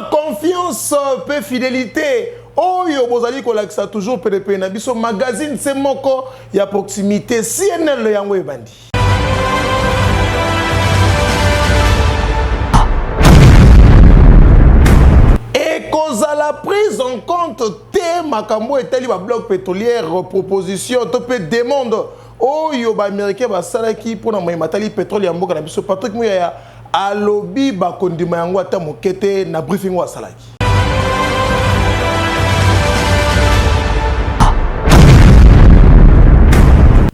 confiance mpe fidelité oyo bozali kolakisa toujours penepene na biso magazine se moko ya proximité cnl yango ebandi ekozala prise en compte te makambo etali babloc pétrolière proposition to mpe demande oyo baaméricain basalaki mpo na moye matali petrole ya mboka na biso patrick muyaya Alobi bakondima yango ata moke te na briefing oyo asalaki.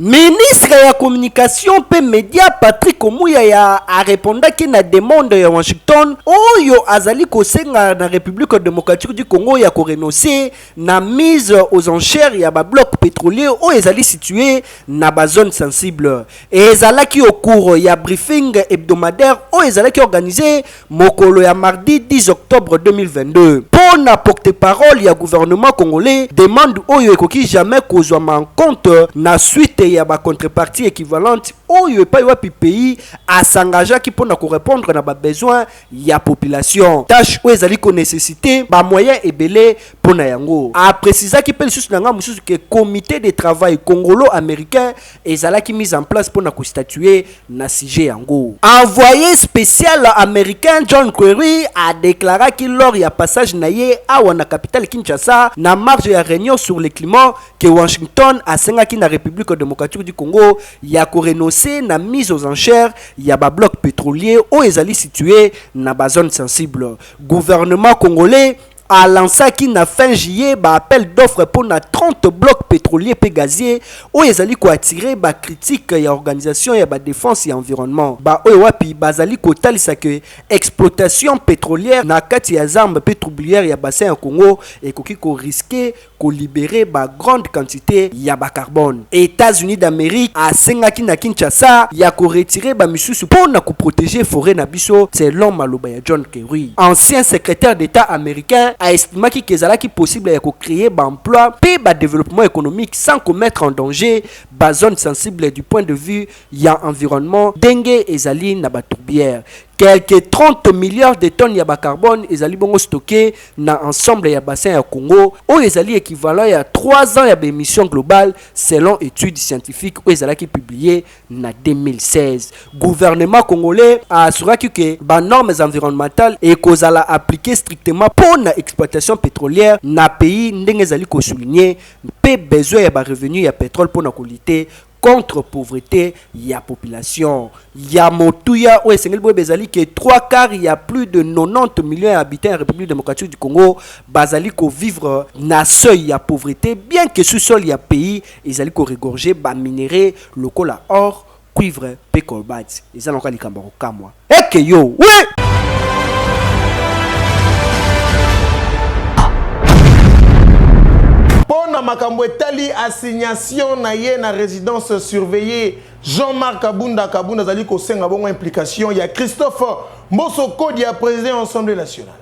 Ministre ya communication mpe media Patrick Muyaya arepondaki na demande ya Washington oyo azali kosenga na Republique democratique du Congo ya korenonce na mise aux enchères ya ba blocs petroliers oyo ezali situe na ba zones sensibles. Ezalaki au cours ya briefing hebdomadaire oyo ezalaki organise mokolo ya mardi 10 octobre 2022 mpo na porte-parole ya gouvernement congolais, demande oyo ekoki jamais kozwama en compte na suite ya ba contreparties equivalentes oyo epayi wapi pays a s'engageaki mpo na ko repondre na ba besoins ya population, tache oyo ezali ko necessiter ba moyens ebele mpo na yango. A precisaki mpe lisusu na ngambo mosusu que comite de travail congolo-americain Ezalaki mise en place mpo na ko statuer na sujet yango. Envoye special americain John Kerry a declaraki lors ya passage na ye awa na capitale Kinshasa na marge ya reunion sur le climat que Washington asengaki na Republique democratique du Congo ya ko renoncer na mise aux enchères ya ba blocs petroliers oyo ezali situer na ba zones sensibles. Gouvernement congolais a lancaki na fin juillet ba appels d'offres mpo na 30 blocs petroliers mpe gaziers, oyo ezali ko attirer ba critiques ya organisations ya ba defense ya environnement, ba oyo wapi bazali kotalisa que exploitation petrolière na kati ya Zambes mpe troublières ya bassin ya Congo ekoki ko risquer ko liberer ba grandes quantites ya ba carbone. Etats-Unis d'Amerique asengaki na Kinshasa ya ko retirer ba misusu mpo na ko proteger foret na biso, selon maloba ya John Kerry. Ancien secretaire d'Etat americain a estimaki que ezalaki possible ya ko creer ba emplois mpe ba developpements economiques sans ko mettre en danger ba zones sensibles du point de vue ya environnement ndenge ezali na ba tourbières. Quelques 30 milliards de tonnes ya ba carbone ezali bongo stocke na ensemble ya bassin ya Congo, oyo ezali equivalent ya trois ans ya ba emissions globales, selon etude scientifique oyo ezalaki publier na 2016. Gouvernement congolais a assuraki que ba normes environnementales ekozala appliquees strictement mpo na exploitation petrolière na pays, ndenge ezali ko souligner mpe besoin ya ba revenus ya petrole mpo na ko lutter contre pauvrete ya population ya motuya oyo esengeli boyeba ezali ke 3 quart ya plus de 90 millions ya habitants ya République démocratique du Congo bazali ko vivre na seuil ya pauvrete bien que sous sol ya pays ezali ko regorger ba minerais lokola or, cuivre mpe colbert. Eza na yoka likambo ya kokamwa. Eke yo, oui! Pona makambo etali assignation na ye na residence surveillée, Jean-Marc Kabunda Kabunda azali kosenga bongo implication ya Christophe Mboso Kodia, president ya Assemblee nationale.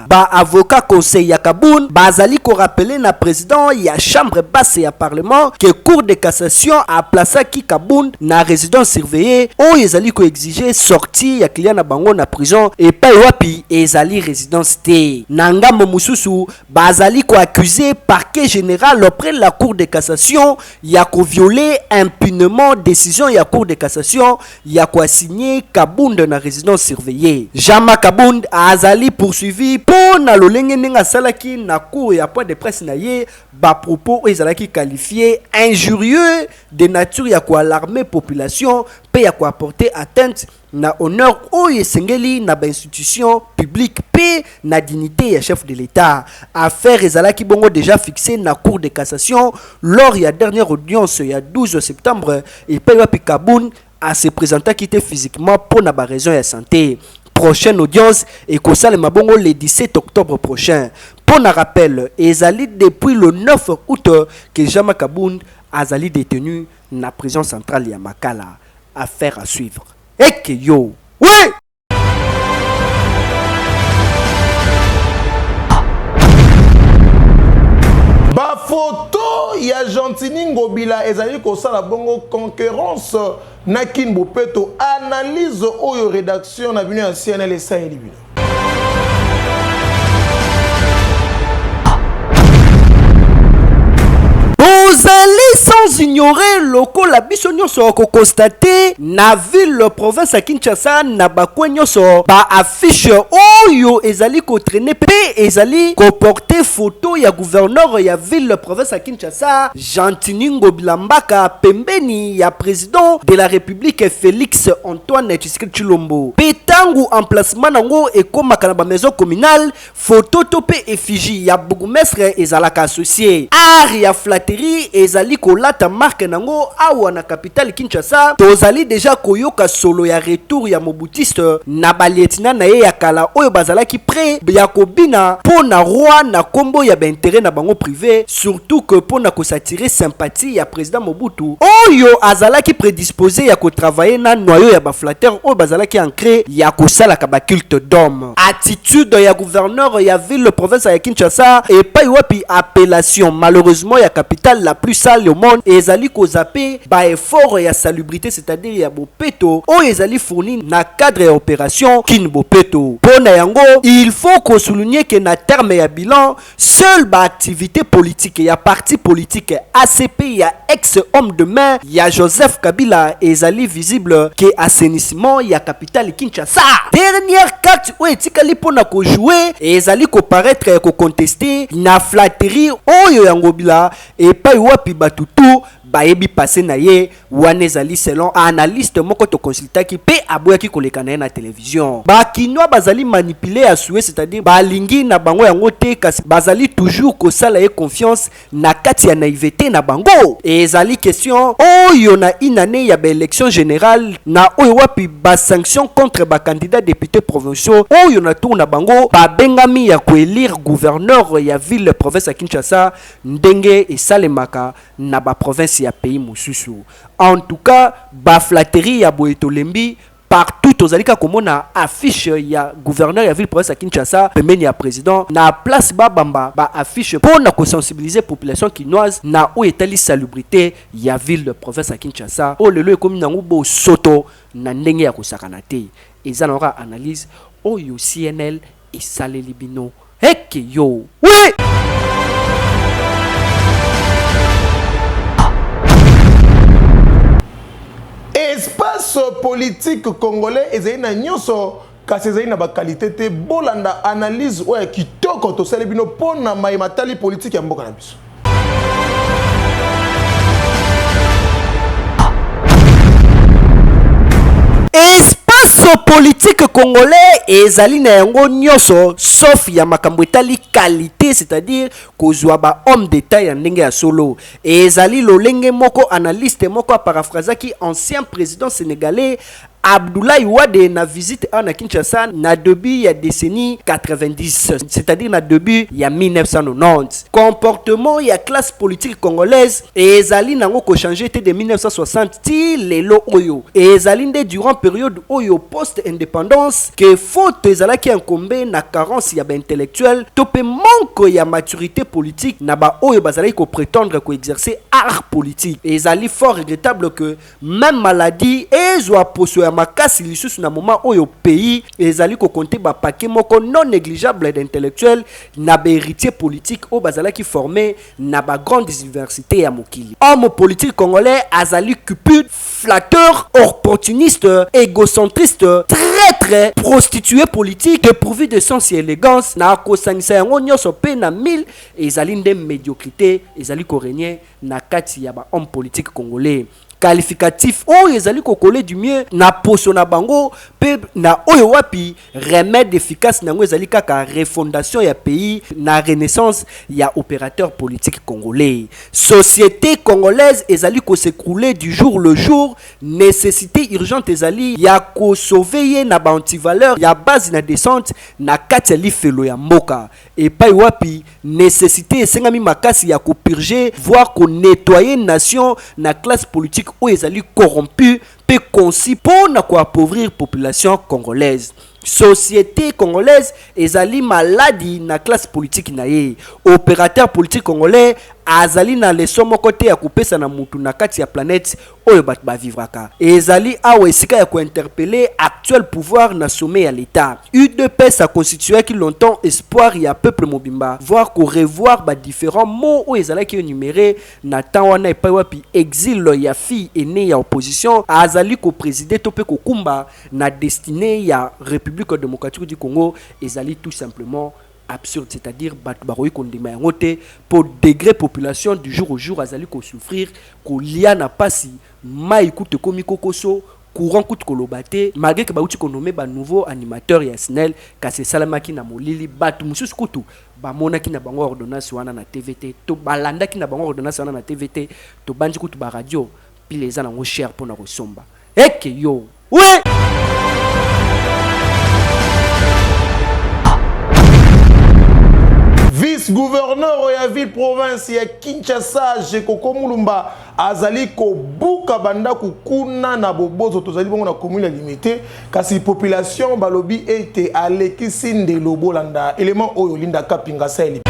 Ba avocats conseils ya Kabund bazali ko rappeler na president ya chambre basse ya parlement que Cour de cassation a placaki Kabund na residence surveillee oyo ezali ko exiger sortie ya client na bango na prison epayi wapi ezali residence te. Na ngambo mosusu, bazali ko accuser parquet general auprès la Cour de cassation ya ko violer impunement decision ya Cour de cassation ya ko assigner Kabund na residence surveillee. Jama Kabund azali poursuivi mpo na lolenge ndenge asalaki na cours ya point de presse na ye ba propos oyo ezalaki qualifier injurieux de nature ya ko alarmer population mpe ya ko apporter atteinte na honneur oyo esengeli na ba institutions publiques mpe na dignite ya chef de l'Etat. Affaire ezalaki bongo dejà fixee na Cour de cassation lors ya dernière audience ya 12 septembre Epayi wapi Kabund a se presentaki te physiquement mpo na ba raisons ya sante. Prochaine audience ekosalema bongo le 17 octobre prochain. Mpo na rappel, ezali depuis le 9 aout que Jean Marc Kabund azali detenu na prison centrale ya Makala. Affaire à suivre. Ekeyoo! Wee! bafoto ya gentini ngobila ezali kosala bongo concurrence na kin bopeto analyse oyo redaction na bino ya cnl esaleli bino sans ignorer lokola biso nyonso akokonstate na ville province ya Kinshasa na bakwe nyonso ba affiche oyo ezali ko traîner pe ezali ko porter photo ya gouverneur ya ville province ya Kinshasa Gentiny Ngobila Mbaka pembeni ya president de la Republique Felix Antoine Tshisekedi Tshilombo pe tangu emplacement nango ekomaka na ba maison communale Photo to pe effigie ya bourgmestre ezalaka associe. Art ya flatterie ezali kolata marque nango awa na capitale Kinshasa. Tozali dejà koyoka solo ya retour ya Mobutiste na ba lieutenants na ye ya kala oyo bazalaki pret ya kobina po na roi na kombo ya ba interets na bango prive, surtout que po na ko s'attirer sympathie ya President Mobutu oyo azalaki predispose ya ko travailler na noyau ya ba flatteurs oyo bazalaki ancres ya kosalaka ba cultes d'homme. attitude ya gouverneur ya ville province ya Kinshasa epai wapi appellation malheureusement ya capitale la plus sale au monde ezali ko zapper ba efforts ya salubrite c'est-à-dire ya bopeto oyo ezali fourni na cadre ya operation Kin Bopeto. Mpo na yango, il faut ko souligner que na terme ya bilan, Seul ba activites politiques ya parti politique ACP ya ex homme de main ya Joseph Kabila ezali visible que assainissement ya capitale Kinshasa. Dernière carte oyo etikali mpo na ko jouer ezali ko paraitre ya ko contester na flatterie oyo ya Ngobila epayi wapi batu tout bayebi passe na ye Wana ezali selon a analyste moko to consultaki pe aboyaki koleka na ye na television. Ba kinois bazali manipuler ya sue c'est à dire ba lingi na bango yango te kasi bazali toujours kosala ye confiance na kati ya naivete na bango. Ezali question oyo na une annee ya ba elections generales na oyo wapi ba sanctions contre ba candidats deputes provinciaux oyo na tour na bango ba bengami ya ko elire gouverneur ya ville province ya Kinshasa ndenge esalemaka na ba provinces ya pays mosusu en tout cas ba flatteries ya boye tolembi, partout tozali kaka komona affiche ya gouverneur ya ville province ya Kinshasa pembeni ya president na place ba bamba ba affiches mpo na ko sensibiliser population kinoise na oyo etali salubrite ya ville province ya Kinshasa oyo lelo ekomi nango bosoto na ndenge ya kosakana te eza nango kaka analyse oyo CNL esaleli bino. Heke yo we! Espace politique congolais ezali na nionso kasi ezali na ba qualite te bolanda analyse oyo ya kitoko tosali bino po na maye matali politique ya mboka na biso. espace politique congolais ezali na yango nyonso sauf ya makambo etali qualité c'est-à-dire kozwa ba homme d'état ya ndenge ya solo ezali lolenge moko analyste moko aparafrasaki ancien président sénégalais Abdoulaye Wade na visite awa na Kinshasa na debut ya decennie 90, c'est-à-dire na debut ya 1990. Comportement ya classe politique congolaise ezali nango ko changer te de 1960 ti lelo oyo. Ezali nde durant periode oyo post independance que faute ezalaki incombe na carence ya ba intellectuels to pe manque ya maturite politique na ba oyo bazalaki ko pretendre ko exercer art politique. Ezali fort regrettable que Meme maladie ezua poso ya makasi lisusu na moment oyo pays ezali ko compter ba paquets moko non negligeables d'intellectuels na ba heritiers politiques oyo bazalaki former na ba grandes universites ya mokili. Homme politique congolais azali cupid, flatteur, orportuniste, egocentriste, traitre, prostitue politique, depourvu de sens et elegance, na kosangisa yango nionso mpe na mille, ezali nde mediocrite ezali ko regner na kati ya ba hommes politiques congolais qualificatif oyo ezali ko coller du mieux na poso na bango mpe na oyo wapi remede efficace na yango ezali kaka refondation ya pays na renaissance ya operateur politique congolais. Societe congolaise ezali ko s'ecrouler du jour le jour, necessite urgente ezali ya ko sauver ye na ba antivaleurs ya base na descente na kati ya lifelo ya mboka. epayi wapi necessite esengami makasi ya ko purger voir ko nettoyer nation na classe politique oyo ezali corrompue mpe conçu mpo na ko appauvrir population congolaise. Societe congolaise ezali maladi na classe politique na ye. Operateur politique congolais azali na leçon moko te ya kopesa na mutu na kati ya planète oyo bato ba vivraka et ezali awa esika ya ko interpeller actuel pouvoir na sommet ya l'Etat. Udps a constituaki longtemps espoir ya peuple mobimba voir ko revoir ba differents mots oyo ezalaki enumerer na temps wana epai wapi exil ya fille ainee ya opposition azali ko presider to mpe kokumba na destinee ya Republique democratique du Congo ezali tout simplement absurde c'est à dire batu bakoki kondima yango te po degre population du jour au jour azali ko souffrir kolia na pasi mayi kutu ekomi kokoso courant kutu koloba te malgre ke bauti ko nommer ba nouveau animateur ya snel kasi esalemaki na molili batu mosusu kutu bamonaki na bango ordonnance wana na tv te to balandaki na bango ordonnance wana na tv te tobanzi kutu ba radio pile eza nango chere pona kosomba eke yo Oui. vice-gouverneur ya ville province ya Kinshasa Jekoko Mulumba azali kobuka bandako kuna na bobozo tozali bongo na commune ya limite kasi population balobi ete alekisi ndelo bolanda element oyo Linda Kapinga sali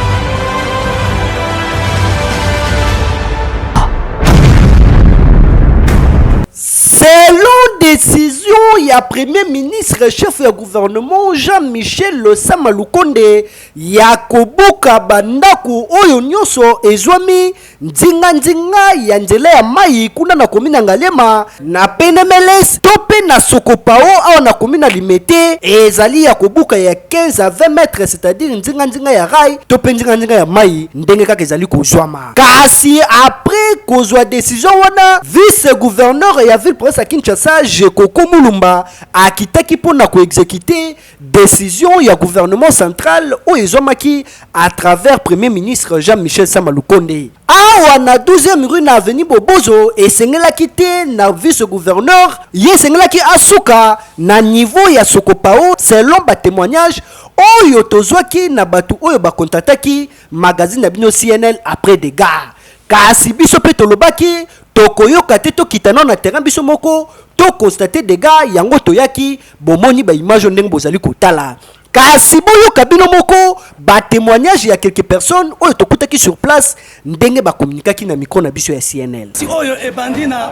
Selon decision ya Premier ministre chef ya gouvernement Jean Michel Sama Lukonde ya kobuka ba ndaku oyo nionso ezuami nzinga nzinga ya nzela ya mayi kuna na commune ya Ngaliema, na Penemeles to pe na Sokopao awa na commune ya Limete ezali ya kobuka ya 15 à 20 mètres c'est-à-dire nzinga nzinga ya rail to pe nzinga nzinga ya mayi ndenge kaka ezali kozuama. Kasi après kozwa decision wana, vice-gouverneur ya ville province ya Kinshasa, Gekoko Mulumba, akitaki mpo na ko executer decision ya gouvernement central oyo ezwamaki à travers Premier ministre Jean-Michel Sama Lukonde. Awa na 12 e rue na avenue Bobozo, esengelaki te na vice-gouverneur, ye esengelaki asuka na niveau ya sokopao, selon ba temoignages oyo tozwaki na batu oyo ba contactaki magazine na bino cnn après degar kasi biso mpe tolobaki tokoyoka te tokita nao na terrain biso moko to constate dega yango toyaki bomoni baimage oyo ndenge bozali kotala kasi boyoka bino moko batémoignage ya quelques personnes oyo tokutaki sur place ndenge bakomunikaki na micro na biso ya cnl si oyo ebandi na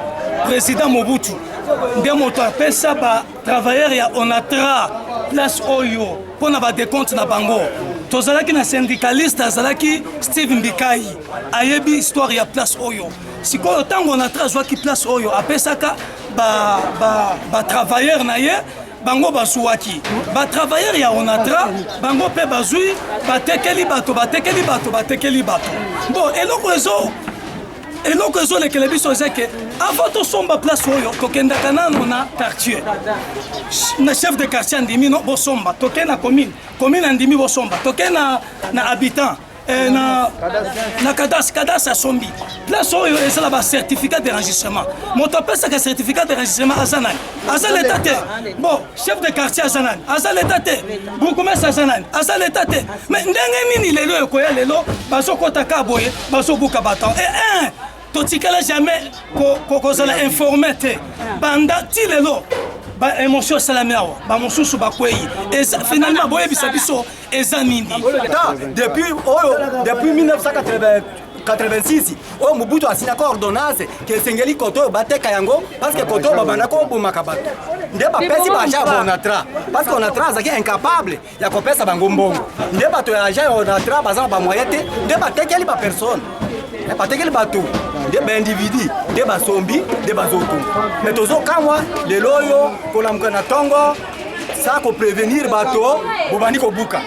président mobutu nde moto apesa ba travailleur ya onatra place oyo mpo na badecompte na bango tozalaki na syndicaliste azalaki steve mbikai ayebi histoire ya place oyo sikoyo ntango onatra azwaki place oyo apesaka batravailleur ba, ba na ye bango bazuwaki batravailleur ya onatra bango mpe bazwi batekeli bato batekeli bato batekeli bato bon eloko ezo eloko ezolekele biso eza ke avant tosomba place oyo tokendaka nano na quartier na chef de quartier andimi no bosomba toke na commune commune andimi bosomba toke na, na habitant Eh, na, na cadastre cadastre asombi place oyo eza na bacertificat de registrement moto apesaka certificat de registrement aza nani aza leta te bon chef de quartier aza nani aza leta te bourgmestre aza nani aza leta te Mais ndenge nini lelo ekoya lelo bazokota ka boye bazobuka baton e eh, eh, totikala jamais kozala ko, informe te banda ti lelo ba émotion esalami awa bamosusu bakwei finalement boyebisa biso eza nini depuis oyo depuis 1980 86 oyo mobutu asilaka ordonnance ke esengeli koto oyo bateka yango parceke koto oyo babanda kobomaka bato nde bapesi baja bonatra parceke onatra azalaki incapable ya kopesa bango mbongo nde bato ya agent ya onatra baza na bamoyen te nde batekeli bapersone eh, batekeli bato nde baindividi nde basombi nde bazotunga me tozokamwa lelo oyo kolamuka na ntongo sa koprevenir bato bobandi kobuka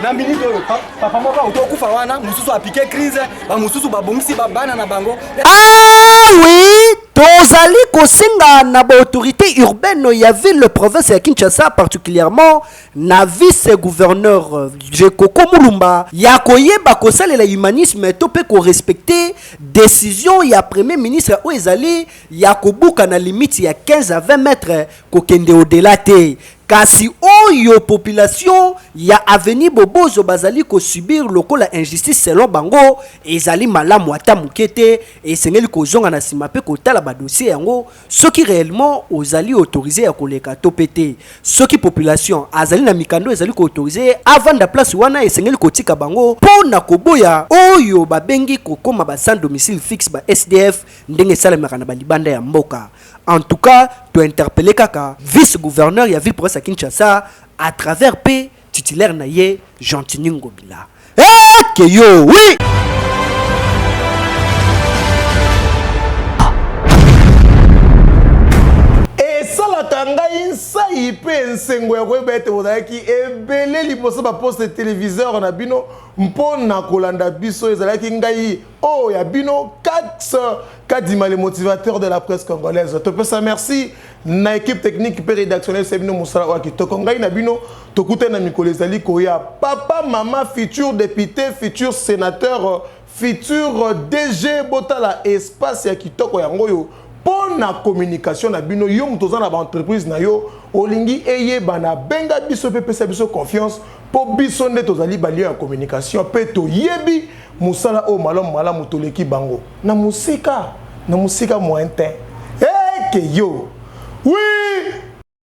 na minute oyo papa moko auti okufa wana mosusu apike crise bamosusu babongisi babana na bango ah oui tozali kosenga na baautorité urbaine ya ville province ya kinshasa particulièrement na vice gouverneur je koko mulumba ya koyeba kosalela humanisme to mpe korespecte decision ya premier ministre oyo ezali ya kobuka na limite ya 15 à 20 mètre kokende odela te kasi oyo population ya avenue bobozo bazali kosubir lokola injustice selon bango ezali malamu ata moke te esengeli kozonga na nsima mpe kotala badossier yango soki reellement ozali autorise ya koleka to pe te soki population azali na mikando ezali ko autorise ye avanda place wana esengeli kotika bango po na koboya oyo babengi kokoma ba sans domicile fixe ba sdf ndenge esalemaka na balibanda ya mboka en tout cas to interpelle kaka vice gouverneur ya ville province ya kinshasa à travers pe Titulaire na ye Gentini Ngobila. Eh que yo oui. esalaka ngai nsai mpe nsengo ya koyeba ete bozalaki ebele liboso baposte televiseur na bino mpo na kolanda biso ezalaki ngai Oh ya bino Katz Kadima le motivateur de la presse congolaise. Topesa merci na équipe technique mpe rédactionnelle se bino mosala oyo kitoko. Ngai na bino tokutani na mikolo ezali koya. Papa, mama, futur député, futur sénateur, futur DG botala espace ya kitoko yango oyo pona communication na bino yo moto oza na ba entreprise na yo olingi eyebana benga biso pe pesa biso confiance po biso nde tozali ba lion ya communication pe toyebi mosala oyo malamu malamu toleki bango na mosika na mosika moyen te eke yo wi